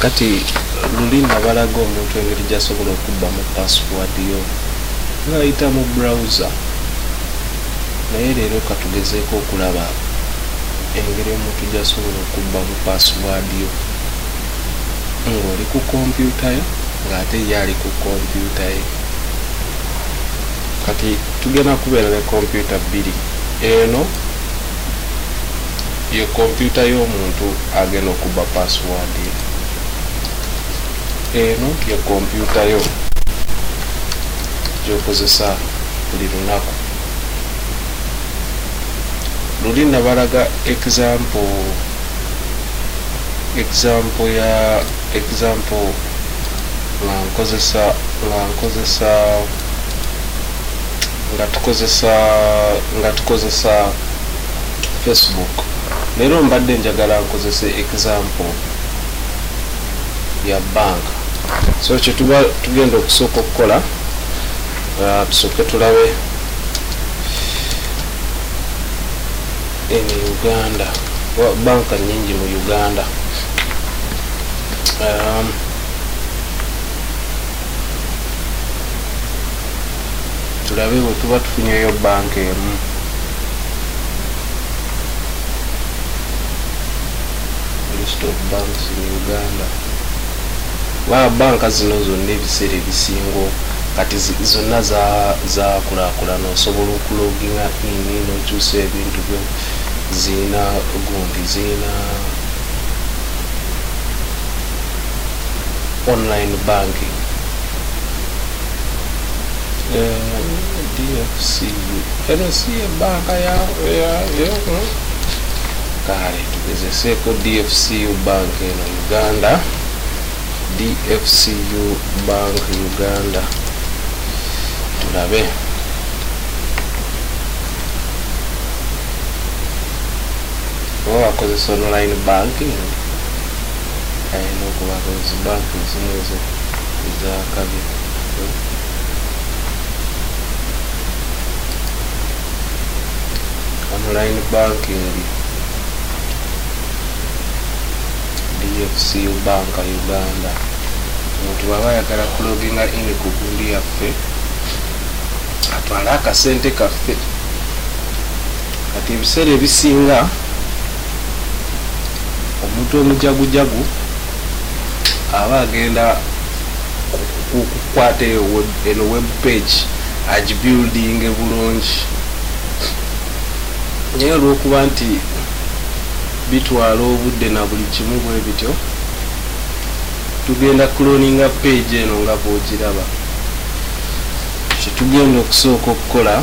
kati luli nabalaga omuntu engeri gyasobola okubba mu password yo ngaayita mu browser naye leero katugezeeko okulaba engeri omuntu gyasobola okubba mu password yo ngaoli ku kompyuta yo ngaate ye ali ku kompyuta ye Kati tugenda kubeera ne kompyuta bbiri. Eno ye kompyuta y'omuntu agenda okubba password ye. Eno ye kompyuta yo gy'okozesa buli lunaku. Luli nabalaga example example ya example nga nkozesa nga nkozesa nga tukozesa nga tukozesa facebook leero mbadde njagala nkozese example ya banka so kyetuba tugenda okusooka okukola uh, tusooke tulabe eno uganda banka nyingi mu uganda um, tulabe bwetuba tufunyeyo banka emu list of banks in uganda ba banka zino zonna ebiseera ebisingo kati zonna zakulakulana osobola okuloginga ini nokyusa ebintu byo zirina gundi zirina online banking dfcu eno si ebanka kale tugezeseeko dfcu bank eno uganda dfcu bank uganda tulabe oba wakozesa online banking Ayina okuba nga zi bank ezimu ezo ezakabi online banking dfcu bank uganda omuntu bwaba ayagala kuloginga ini ku gundi yaffe atwale akasente kaffe kati ebiseera ebisinga omuntu omujagujagu aba agenda kukwata eno web page agibuildinge bulungi naye olwokuba nti bitwala obudde na buli kimu bwe bityo tugenda kuloninga page eno nga bwogiraba kyetugenda okusooka okukola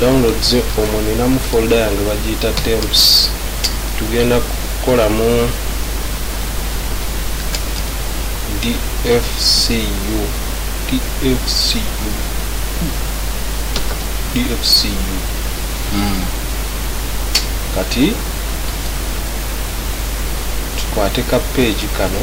downloads omwo ninamu folda yange bagiyita temps tugenda kukolamu dfcu dfcu dfcu hmm. kati tukwate ka page kano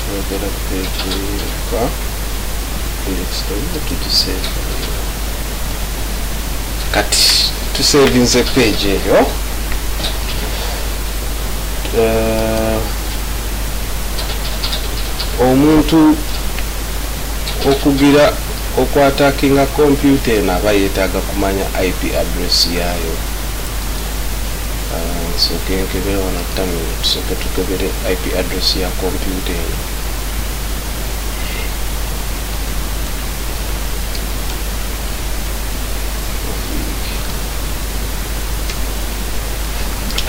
twagala page yokka lyrics tolina tugiseeva kati tusevinze page eyo eh, omuntu okugira okwatakinga kompyuta eno aba yeetaaga kumanya ip address yaayo Nsooke nkebere wano terminal, tusooke tukebere IP address ya kompyuta eno.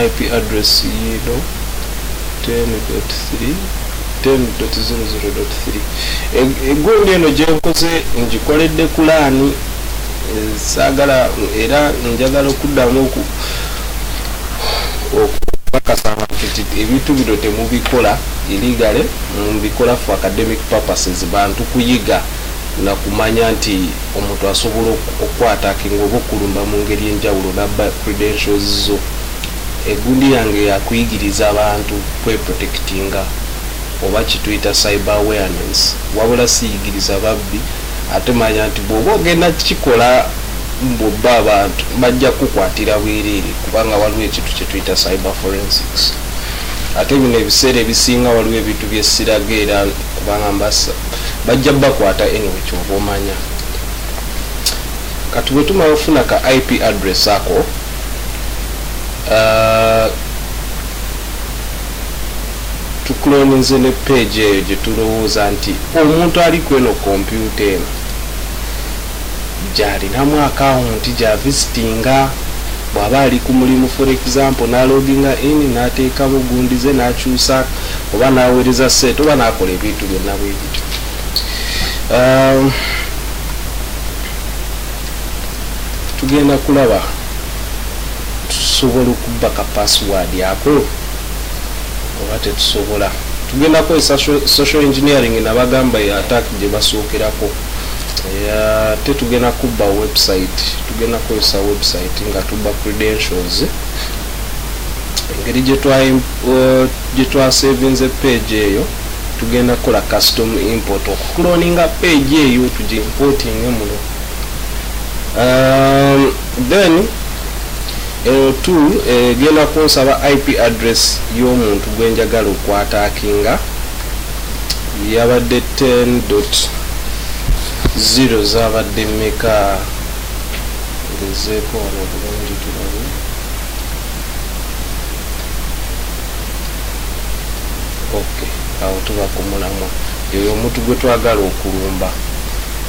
IP address yiino 10.3 10.00.3 egundi eno gyenkoze ngikoledde kulaani saagala era njagala okuddamu okukakasa abantu nti ebintu bino temubikola iligale mubikola for academic purposes bantu kuyiga nakumanya nti omuntu asobola okukwatakinga oba okulumba mu ngeri enjawulo nabba credentials zo egundi yange yakuyigiriza abantu kweprotectinga oba kituyita cyber awareness wabula siyigiriza babbi Ate manya nti bw'oba ogenda kukikola mbu obbe abantu, bajja kukukwatira bwereere kubanga waliwo ekintu kye tuyita cyber forensics. Ate bino ebiseera ebisinga waliwo ebintu bye siraga era kubanga mba bajja bbakwata anyway ky'oba omanya. Kati bwe tumala okufuna ka IP address ako, uh, tukuloninze ne page eyo gyetulowooza nti omuntu ali kweno kompyuta eno gyalinamu akawunti gya visitinga bwaba ali ku mulimu for example naloginga in nateekamu gundize nakyusa oba naweereza sente oba nakola ebintu byonna bwebityo um, tugenda kulaba Tusobola okubba ka password ako oba tetusobola? Tugenda kukozesa social engineering nabagamba ya attack gyebasookerako ate tugenda kubba website tugenda kukozesa website nga tubba credentials engeri gyetwasevinze uh, page eyo tugenda kukola custom import okukuloninga page eyo tugiimportinge muno um, then eno eh, tu egenda eh, kunsaba ip address y'omuntu gwenjagala okwatakinga yabadde 10 dot 0 zabadde meka ngezeeko wano bulungi tulabe ok awo tuba kumulamwa eyo omuntu gwe twagala okulumba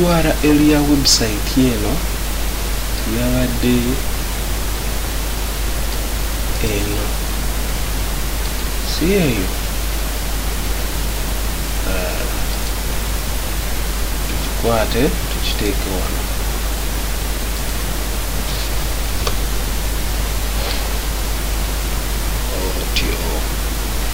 url ya website eno yabadde eno si eyo ah, tukikwate tukiteeke wano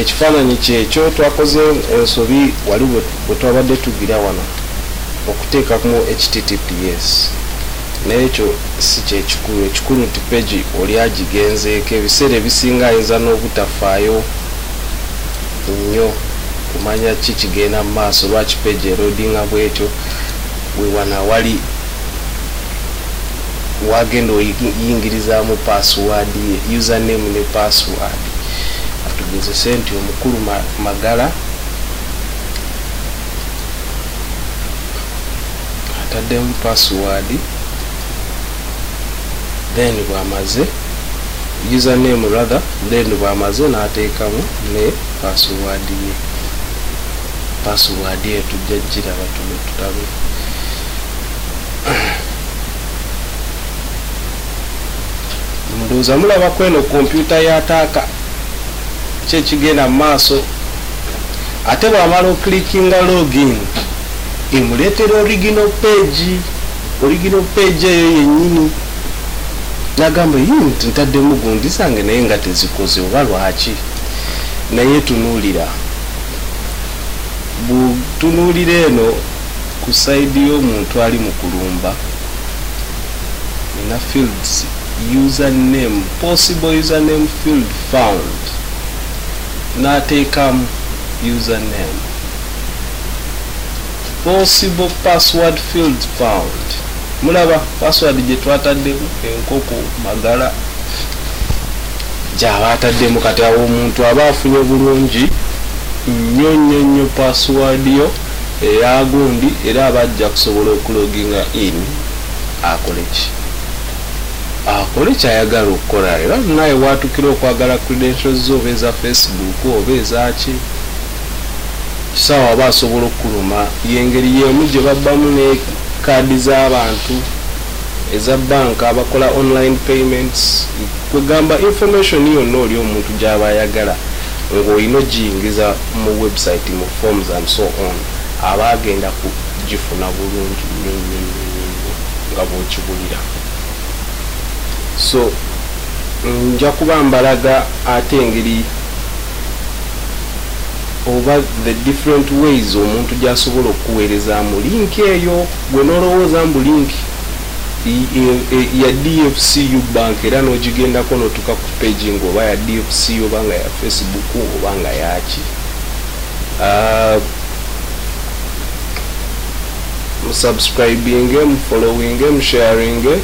Ekifaananyi kyekyo twakoze ensobi wali bwe twabadde tugira wano okuteekamu https naye ekyo si kye kikulu. Ekikulu nti peegi oli agigenzeeko. Ebiseera ebisinga ayinza n'obutafaayo nnyo kumanya ki kigenda mu maaso, lwaki peegi eloodinga bw'etyo. We wano awali w'agenda oyingirizaamu paasiwaadi ye, username ne paasiwaadi. atugezese nti omukulu Magala ataddemu password then bwamaze username rather then bwamaze n'ateekamu ne password ye password etujja giraba tuno tutabe ndowooza mulaba kweno kompyuta ya taaka ki ekigenda mu maaso ate bwamala oklikinga login emuleetera original page original page eyo yennyini nagamba unit ntaddemu gundi zange naye nga tezikoze oba lwaki naye tunuulira butunuulira eno Ku side yomuntu ali mu kulumba nina fields user name possible user name field found natekamu user name possible password field found mulaba password gyetwataddemu enkoko magala gyaba ataddemu kati awo omuntu aba afunye bulungi nnyo nnyo nnyo password yo Eya gundi era aba ajja kusobola oku loginga in akole ki akole kyayagala okukola era naye watukira okwagala credentials zo oba eza facebook oba ezaki kisawa aba asobola okukuluma yengeri yemu gye babbamu ne kaadi z'abantu eza banka abakola online payments kwegamba information yonna oli omuntu gyaba ayagala nga olina ojiyingiza mu website mu forms and so on aba agenda ku jifuna bulungi nyo nyo nyo nyo nyo nga bwokibulira so nja kuba mbalaga ate engeri oba the different ways omuntu gyasobola okukuweerezaamu link eyo gwe nolowooza mbu link ya dfcu bank era nogigendako notuka ku page nga oba ya dfcu oba nga ya facebook oba nga yaki uh, musubscribinge mufollowinge musharinge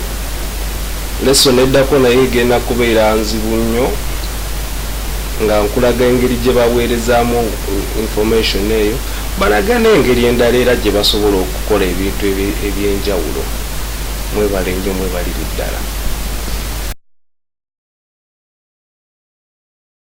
lesson eddako naye egenda kubeera nzibu nnyo nga nkulaga engeri gye baweerezaamu information eyo Balage n'engeri endala era gye basobola okukola ebintu eby'enjawulo. Mwebale nnyo mwebalire ddala.